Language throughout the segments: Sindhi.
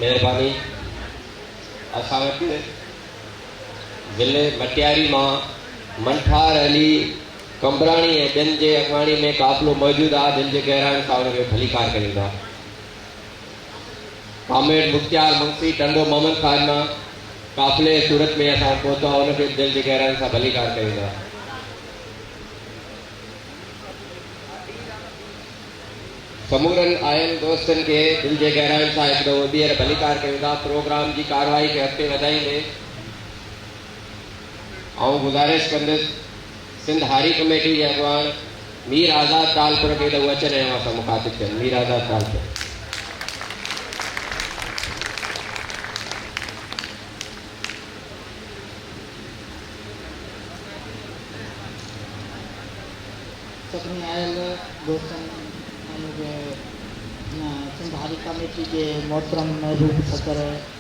مهرباني اسان وٽ ضلعي مٽياري مان منٺار علي قمبراڻي ۽ ٻين جي اڳواڻي ۾ قافلو موجود آهي جن جي گهراڻي سان ان کي ڀليڪار ڪريندا ڪامريڊ مختيار منگسي ٽنڊو محمد خان مان قافلي صورت ۾ اسان وٽ پهتو آهي، ان کي به دل جي گهرائين سان ڀليڪار ڪيون ٿا. سمورن آيل دوستن کي دل جي گهرائين سان هڪ دفعو ٻيهر ڀليڪار ڪيون ٿا. پروگرام جي ڪارروائي کي اڳتي وڌائيندي آئون گذارش ڪندس سنڌ هاري ڪميٽي جي اڳواڻ مير آزاد ٽالپر کي ته هو اچن ۽ اوهان سان مخاطب ٿين. مير آزاد ٽالپر. سڀني آيل دوستن ۽ سنڌ هاري ڪميٽي جي محترم محبوب صدر.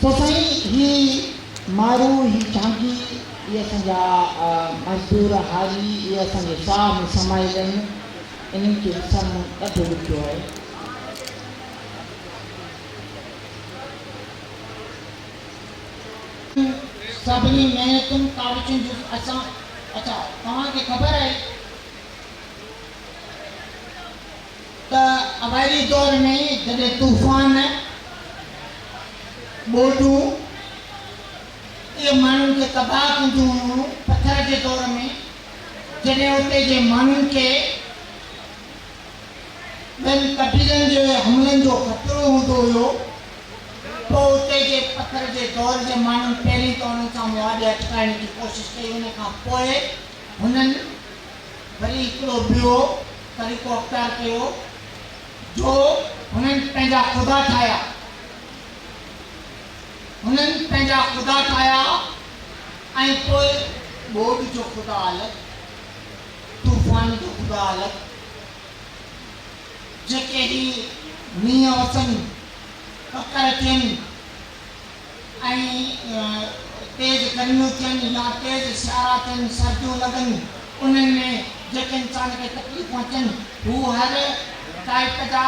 چئه سائين هي مارو هي چانگي اهي اسان جا مزدور هاري اهي اسان جي ساهه ۾ سمايل آهن انهن کي وسارڻو ڏاڍو ڏکيو آهي. تون سڀني محنتن ڪاوشن جو اسان اچا توهان کي خبر آهي. ته اوائلي دور ۾ جڏهن طوفان، ٻوڏون اهي ماڻهن کي تباهه ڪنديون هيون، پٿر جي دور ۾ جڏهن اتي جي ماڻهن کي ٻين قبيلن جي حملن جو خطرو هوندو هيو پوء اتي جي پٿر جي دور جي ماڻهن پهرين ته انهن سان معاهدي اٽڪائڻ جي ڪوشش ڪئي ان کان پوء هنن وري هڪڙو ٻيو طريقو اختيار ڪيو جو هنن پنهنجا خدا ٺاهيا. هنن پنهنجا خدا ٺاهيا ۽ پوء ٻوڏ جو خدا الڳ، طوفان جو خدا الڳ، جيڪي هي مينهن وسن، ڪڪر ٿين، ۽ تيز گرميون ٿين يا تيز سيارا ٿين، سرديون لڳن، انهن ۾ جيڪي انسان کي تڪليفون اچن، هو هر ٽائيپ جا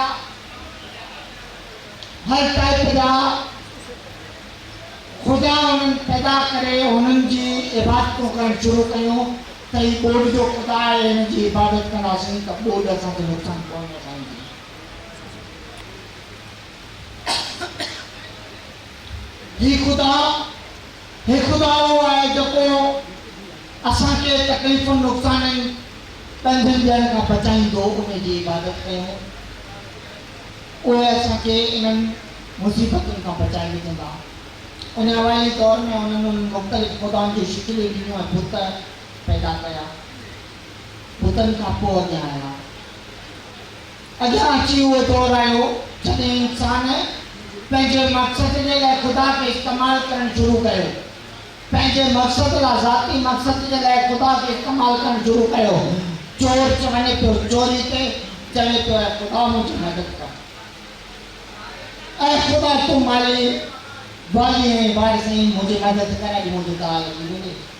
هر ٽائيپ جا خدا انهن پيدا ڪري انهن جي عبادتون ڪرڻ شروع ڪيون ته هي ٻوڏ جو خدا آهي، هن جي عبادت ڪنداسين ته ٻوڏ اسان کي نقصان پهچائيندي. هي خدا، هي خدا اهو آهي جيڪو اسان کي تڪليفن، نقصانن، ڏنڊن ڏيڻ کان بچائيندو، ان جي عبادت ڪيون، اهي اسان کي انهن مصيبتن کان بچائي وجهندا. ان اوائلي دور ۾ انهن انهن مختلف خدائن جون شڪليون ڏنيون ۽ بت پيدا ڪيا. بتن کان پوء اڳيان آيا. اڄان اچي اهو دور آيو جڏهن انسان پنهنجي مقصد جي لاء خدا کي استعمال ڪرڻ شروع ڪيو. پنهنجي مقصد لاء ذاتي مقصد جي لاء خدا کي استعمال ڪرڻ شروع ڪيو. چور چ وڃي پيو چوري تي چوي ٿو اي خدا منهنجي مدد ڪر. اي خدا تون مالي والي آهين وارث آهين منهنجي مدد ڪر اڄ منهنجي ڳالهه ٿي وڃي.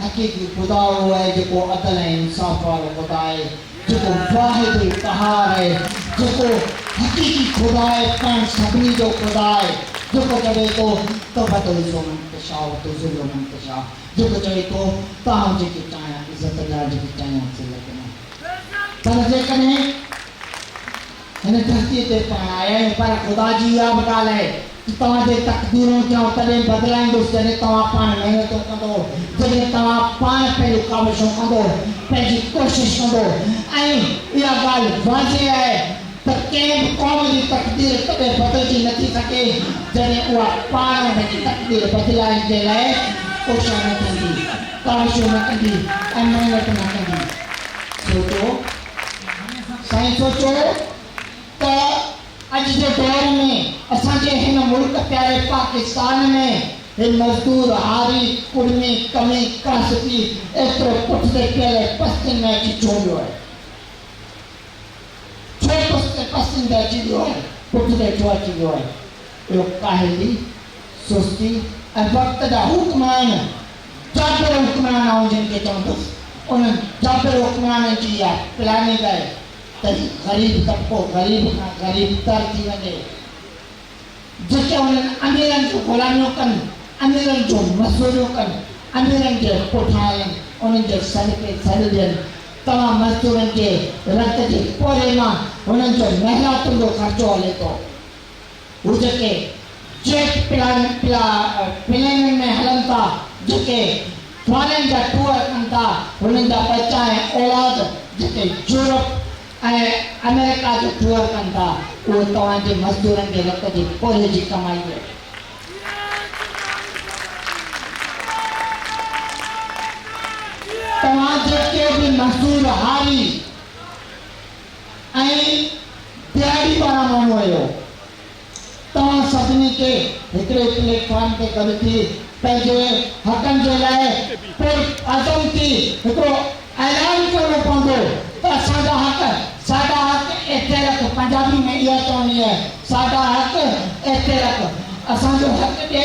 حقيقي خدا اهو آهي جيڪو عدل ۽ انصاف وارو خدا آهي، جيڪو واحد القهار آهي، جيڪو حقيقي خدا آهي، پاڻ سڀني جو خدا آهي، جيڪو چوي ٿو ته وتعزو من تشاء وتذل من تشاء، جيڪو چوي ٿو ته آئون جنهن کي چاهيان عزت ڏيان جنهن کي چاهيان ذلت ڏيان. پر جيڪڏهن. هن ڌرتيء تي پاڻ آيا آهيون، پر خدا جي اها به ڳالهه آهي ته توهان جي تقديرون ٿيائون تڏهن بدلائيندس جڏهن توهان پاڻ محنتون ڪندو، جڏهن توهان پاڻ پنهنجون ڪاوشون ڪندو، پنهنجي ڪوشش ڪندو ۽ اها ڳالهه واضح آهي ته ڪنهن به قوم جي تقدير تڏهن بدلجي نه ٿي سگهي جڏهن اها پاڻ ان جي تقدير بدلائڻ جي لاء ڪوشان نه ٿيندي، ڪاوشون نه ڪندي ۽ محنتون نه ڪندي. سوچو! سائين سوچو ته اڄ جي دور ۾ اسان جي هن ملڪ پياري پاڪستان ۾ هي مزدور، هاري، ڪڙمي، ڪمي، ڪاسبي ايترو پٺتي پيل ۽ پستين ۾ اچي ڇو ويو آهي؟ ڇو پستين پستين تي اچي ويو آهي؟ پٺتي ڇو اچي ويو آهي؟ اهو ڪاهلي، سستي ۽ وقت جا حڪم آهن جابر حڪمران آئون جن کي چوندس انهن جابر حڪمرانن جي اها پلاننگ آهي ته هي غريب طبقو غريب کان غريب تر ٿي وڃي جيڪي انهن اميرن جون غلاميون ڪن اميرن جون مزدوريون ڪن اميرن جي پٺان هلن انهن جي سڏ تي سڏ ڏين توهان مزدورن جي رت جي پورهيي مان هنن جو محناتن جو خرچو هلي ٿو. هو جيڪي جيٽ پلينن ۾ هلن ٿا، جيڪي ٽوالين جا ٽوئر ڪن ٿا، هنن جا ٻچا ۽ اولاد جيڪي يورپ ۽ آمريڪا جو ٽوئر ڪن ٿا، اهو توهان جي مزدورن جي رت جي پورهيي جي ڪمائي آهي. توهان جيڪي به مزدور هاري. ۽ پي آء ڊي پاران مامو اهو توهان سڀني کي هڪڙي پليٽ فارم تي گڏ ٿي پنهنجي حقن جي لاء پر عزم ٿي هڪڙو اعلان ڪرڻو پوندو ته اسان جا حق ساڊا حق ايتي رک پنجابي ۾ اها چوڻي آهي ساڊا حق ايتي رک اسان جو حق ڏي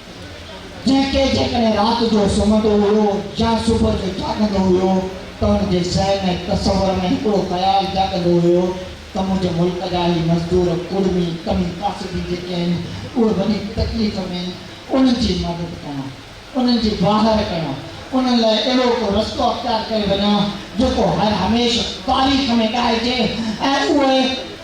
جنهن کي جيڪڏهن رات جو سمهندو هيو يا صبح جو جاڳندو هيو ته ان جي ذهن ۽ تصور ۾ هڪڙو خيال جاڳندو هيو ته منهنجي ملڪ جا هي مزدور، ڪڙمي، ڪمي ڪاسبي جيڪي آهن اهي وڏي تڪليف ۾ آهن انهن جي مدد ڪيان، انهن جي واهر ڪيان، انهن لاء اهڙو ڪو رستو اختيار ڪري وڃان جيڪو هر هميشھ تاريخ ۾ ڳائجي ۽ اهي.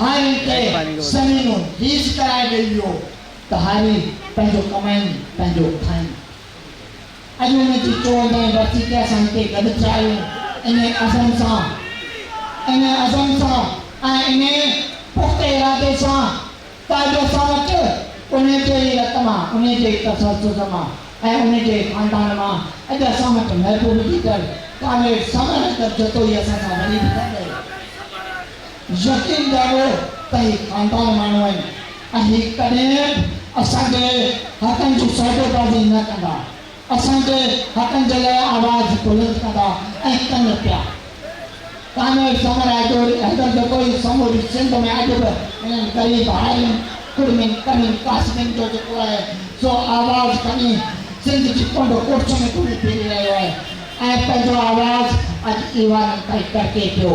هارين کي سنڱيون خيز ڪرائي ڏئي ويو ته هاري پنهنجو ڪمائين پنهنجو کائين. اڄ ان جي چووندهين ورسي تي اسان هتي گڏ ٿيا آهيون انهيء عزم سان انهيء عزم سان ۽ انهيء پخته ارادي سان ته اڄ اسان وٽ انهيء جي ئي رت مان انهيء جي ئي تسلسل مان ۽ انهيء جي ئي خاندان مان اڄ اسان وٽ محبوب ليڊر ڪامريڊ سمر اڪبر جتوئي اسان سان وري به گڏ يقين ڏياريو ته هي خاندان ماڻهو آهن ۽ هي ڪڏهن به اسان جي حقن جي سودابازي نه ڪندا، اسان جي حقن جي لاء آواز بلند ڪندا ۽ ڪن پيا. ڪامريڊ سمر آجوري حيدر جتوئي سموري سنڌ ۾ اڄ به هنن غريب هارين، ڪڙمين، ڪمين، ڪاسبين جو جيڪو آهي سو آواز کڻي سنڌ جي ڪنڊ ڪڙڇ ۾ گهمي ڦري رهيو آهي ۽ پنهنجو آواز اڄ ايوانن تائين ڪڙڪي پيو.